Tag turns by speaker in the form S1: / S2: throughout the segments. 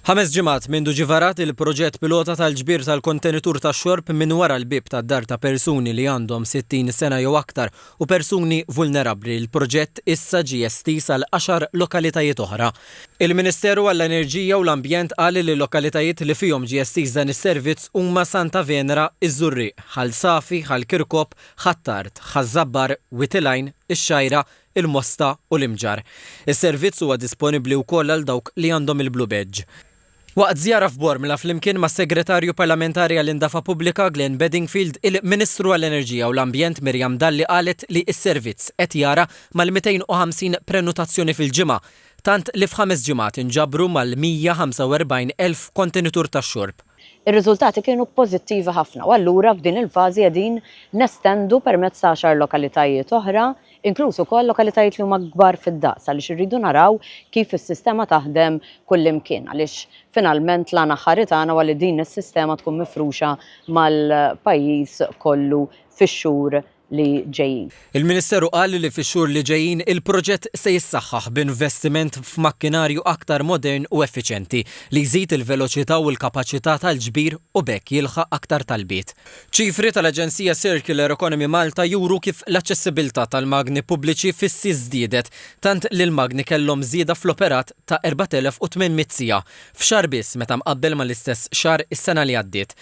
S1: Ħames ġimgħat mindu ġie varat il-proġett pilota tal-ġbir tal-kontenitur tax-xorb minn wara l-bieb tad-dar ta' persuni li għandhom 60 sena jew aktar u persuni vulnerabbli, il-proġett issa ġie estiż għal għaxar lokalitajiet oħra. Il-Ministeru għall-Enerġija u l-Ambjent qal li l-lokalitajiet li fihom ġie estiż dan is-servizz huma Santa Venera, iż-Żurrieq, Ħal Safi, Ħal Kirkop, Ħ'Attard, Ħaż-Żabbar, Wied il-Għajn, ix-Xgħajra, il-Mosta u l-Imġarr. Is-servizz huwa disponibbli wkoll għal dawk li għandhom il-Blue Badge. Waqt żjara f'Bormla flimkien mas-Segretarju Parlamentari għall-Indafa Pubblika Glenn Bedingfield, il-Ministru għall-Enerġija u l-Ambjent Miriam Dalli qalet li s-servizz qed jara mal-250 prenutazzjoni fil-ġimgħa, tant li f'ħames ġimgħat inġabru mal-145 elf kontenitur tax-xorb. Ir-riżultati
S2: kienu pożittivi ħafna u allura f'din il-fażi qegħdin nestendu permezz ta' għaxar lokalitajiet oħra inkluż ukoll lokalitajiet li huma kbar fid-daqs għaliex irridu naraw kif is-sistema taħdem kullimkien għaliex finalment l-għan aħħari tagħna huwa li din is-sistema tkun mifruxa mal-pajjiż kollu fix-xhur li ġejjin. Il-Ministeru qal
S1: li fix-xhur li ġejjin il-proġett se jissaħħaħ b'investiment f'makkinarju aktar modern u effiċjenti li jżid il-veloċità u l-kapaċità tal-ġbir u b'hekk jilħaq aktar talbiet. Ċifri tal-aġenzija Circular Economy Malta juru kif l-aċċessibbiltà tal-magni pubbliċi fissi żdiedet, tant li l-magni kellhom żieda fl-operat ta' 4,800 siegħa f'xahar biss meta mqabbel mal-istess xahar is-sena li għaddiet.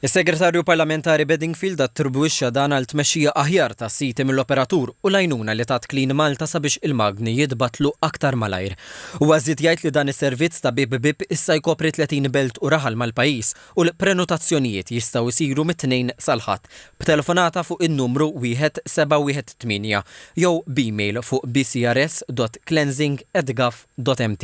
S1: Is-Segretarju Parlamentari Bedingfield attribwixxa dan għal tmexxija aħjar tas-siti mill-operatur u l-għajnuna li tat Clean Malta sabiex il-magni jitbattlu aktar malajr. Huwa żied jgħid li dan is-servizz ta' bieb bieb issa jkopri 30 belt u raħal mal-pajjiż u l-prenotazzjonijiet jistgħu jsiru mit-Tnejn sal-Ħadd b'telefonata fuq in-numru wieħed seba' wieħed tmienja jew b'email fuq bcrs.cleansing@gov.mt.